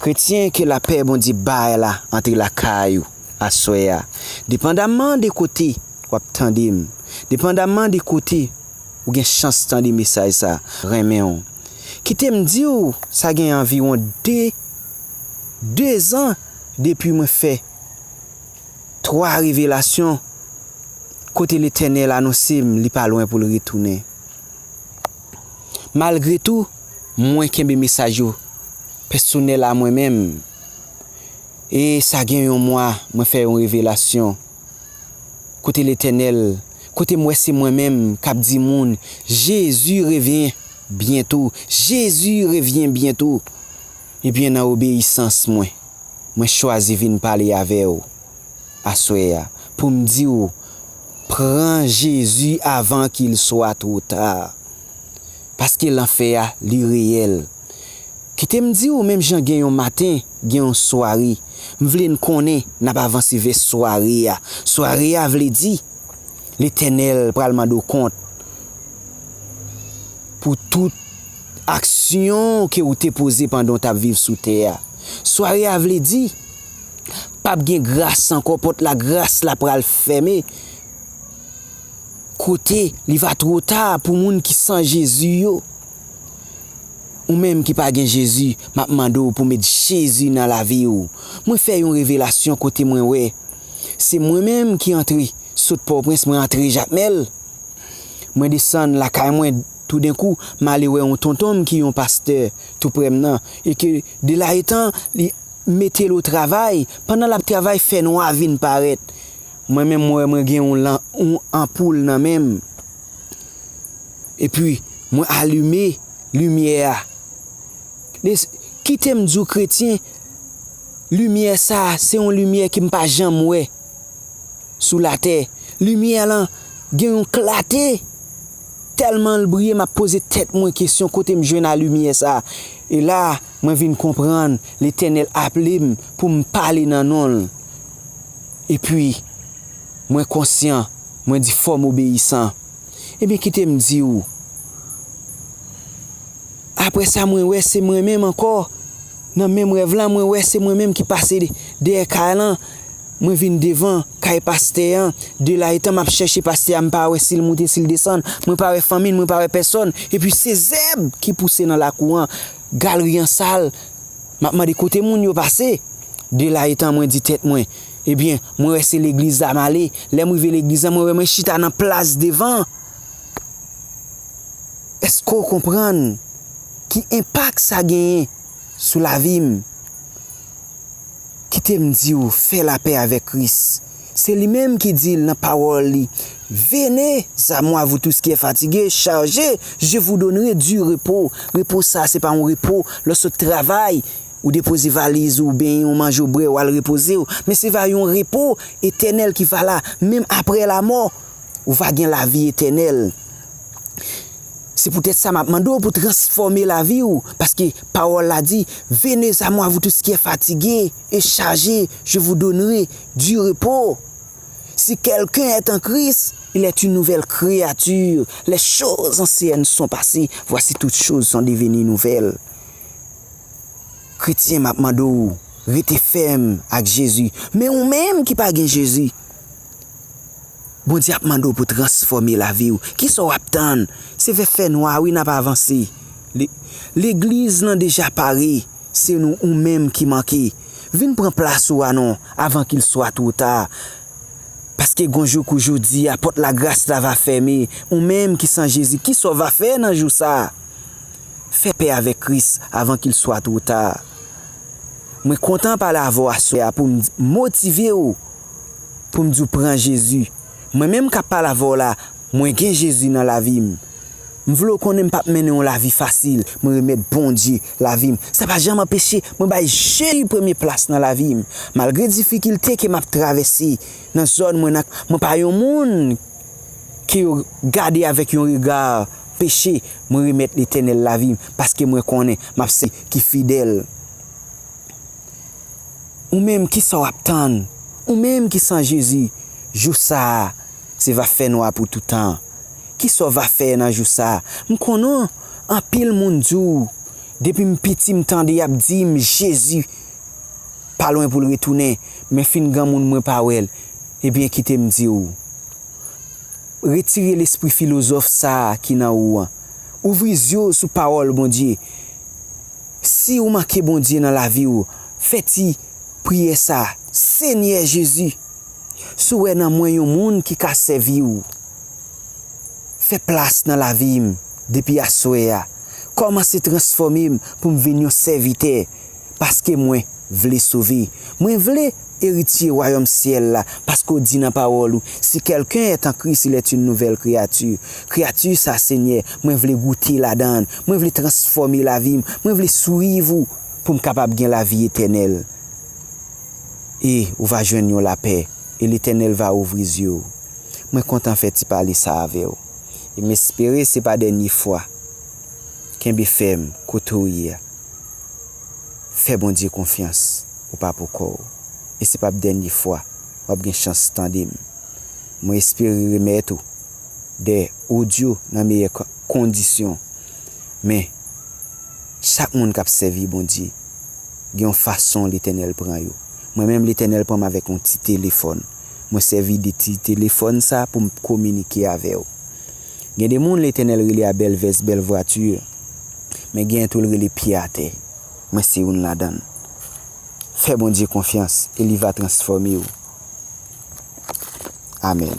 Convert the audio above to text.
Kretyen ke lapè Bondye bay la antre lakay ou aswè a. Depandamman de kote wap tande m, depandamman de kote ou gen chans tande mesaj sa, renmen w. Kite m di w sa gen anviwon 2 2 zan depi mwen fè 3 revelasyon kote Letènèl anonse m li pa lwen pou l retounen. Malgre tou, mwen kenbe mesaj yo pèsonèl a mwen menm. E sa gen yon mwa mwen fè yon revelasyon kote Letènèl, kote m wè se mwen menm k ap di moun Jezi revyen byento, Jezi revyen byento. Ebyen nan obeyisans mwen, mwen chwazi vin pale avè ou aswè a pou m di ou pran Jezi avan k il swa two ta. Paske lanfè a li reyèl. Kite m di ou menm jan gen yon maten gen yon sware, m vle n konnen n ap avanse vè sware a. Sware a vle di Letènèl pral mande w kont pou tout. Aksyon ke ou te poze pandan w t ap viv sou tè a. Sware a vle di, p ap gen gras ankò, pòt lagras la pral fèmen, kote li va two ta pou moun ki san Jezi yo. Ou menm ki pa gen Jezi, m ap mande w pou met Jezi nan lavi w. Mwen fè yon revelasyon kote mwen wè se mwen menm ki antre, sot Pòprens mwen antre Jakmèl, mwen desann lakay mwen. Toudenkou, m ale wè yon tonton m ki yon pastè toupre m nan e ke delayetan li mete l otravay. Pandan l ap travay, fènwa vin parèt. Mwen menm, mwen wè mwen gen yon lan, yon anpoul nan men m. Epi, mwen alime limyè a. Li, Kite m di w kretyen, limyè sa a se yon limyè ke m pa janm wè sou latè. Limyè lan gen yon klate! Tèlman l briye m ap poze tèt mwen kesyon kote m jwenn alimyè sa a. E la, mwen vin konprann Letènèl aple m pou m pale nan non l. Epi, mwen konsyan, mwen di fò m obeyisan. Ebyen kite m di ou. Aprè sa mwen wè se mwen menm ankò nan menm rèv la mwen wè se mwen menm ki pase dèyè kay lan mwen vin devan kay pastè an de la etan map chèche pastè a mpa wè sil moute sil desann mwen pa wè fanmi l mwen pa wè pèsòn epi se zèb ki pouse nan lakou an galri an sal map mande kote moun yo pase de la etan mwen di tèt mwen ebyen mwen wè se legliz la male lèm rive legliz la mwen wè mwen chita nan plas devan. Eske w konprann ki enpak sa genyen sou lavi m? Kite m di w, fè lapè avèk Kris. Se li menm ki di l nan pawòl li, Vene a mwa vou tous ki è fatige, chaje, je vou donnere di repo. Repo sa se pa yon repo lè w sot travay, ou depoze valiz ou oubyen yon manje ou bre w al repoze w, men se va yon repo etènèl ki va la menm aprè lamò. ou va gen lavi etènèl. Se poutèt sa m ap mande w pou transfòme lavi w, paske pawòl la di, Vene a mwa vou tous kiè fatige e chaje, je vou donnre di repo. Si kèlken èt an Kris, il èt yn nouvèl kreyati, lè choz ansyèn son pase, vwasi tout choz son deveni nouvèl. Kretyen m ap mande w rete fèm ak Jezi. Men ou menm ki pa gen Jezi. Bondye ap mande w pou transfòme lavi w. Kisa w ap tann? Se vè fènwa wi n ap avanse. Legliz lan deja pare, se nou ou menm ki manke. Vin pran plas ou a non, avan kil swa two ta. Paske gon jou kou jodi a, pòt lagras la va fème. Ou menm ki san Jezi, kisa w va fè nan jou sa? Fè pè avèk Kris avan kil swa two ta. Mwen kontan pale avè w aswè a pou m motive w. poum diw pran Jezi mwen menm kap pale avèw la mwen gen Jezi nan lavim m vle w konnen m pap mennen yon lavi fasil mwen remèt Bondye lavim sa pa janm anpeche mwen bay Jezi premye plas nan lavim malgre difikilte ke map travèse nan zòn mwen nan mwen pa yon moun ke yo gade avèk yon rega peche mwen remèt Letènèl lavim paske mwen konnen map sèvi yon Bondye ki fidèl. Ou menm ki sa w ap tann? Ou menm ki san Jezi, jou sa a se va fè nwa pou toutan. Ki sa w va fè nan jou sa a? M konnen anpil moun di w, depi m piti m tande y ap di m Jezi pa lwen pou l retounen, men fin granmoun mwen pa wè l. Ebyen kite m di w, retire lespri filozòf sa a ki nan ou an. Ouvri zye w sou pawòl Bondye. Si ou manke Bondye nan lavi ou fè ti priyè sa, Senyè Jezi si w wè nan mwen yon moun ki ka sèvi w fè plas nan lavi m depi aswè a kòmanse transfòme m pou m vin yon sèvitè paske mwen vle sove mwen vle eritye wayòm syèl la, paske w di nan pawòl ou, Si kèlken est en Christ, il est une nouvelle créature. Kreyati sa, Senyè, mwen vle goute ladan l, mwen vle transfòme lavi m, mwen vle swiv ou pou m kapab gen lavi etènèl. E ou va jwenn yon lapè, e Letènèl va ouvri zye w. Mwen kontan fè ti pale sa avè w. E m espere se pa dènye fwa. Kenbe fèm kote w ye a. fè Bondye konfyans ou pa pou kòw e se pap dènye fwa wap gen chans tandem mwen espere remèt ou de audio nan meyè kondisyon men chak moun kap sèvi Bondye gen yon fason letènèl pran yo mwen menm letènèl pranm avèk yon ti telefòn mwen sèvi de ti telefòn sa poum kominike avèw Gen de moun Letènèl rele a bèl vès, bèl vwati, men genyen tou l rele pye atè. Mwen se youn ladan l. Fè Bondye konfyans e li va transfòme w. Amèn.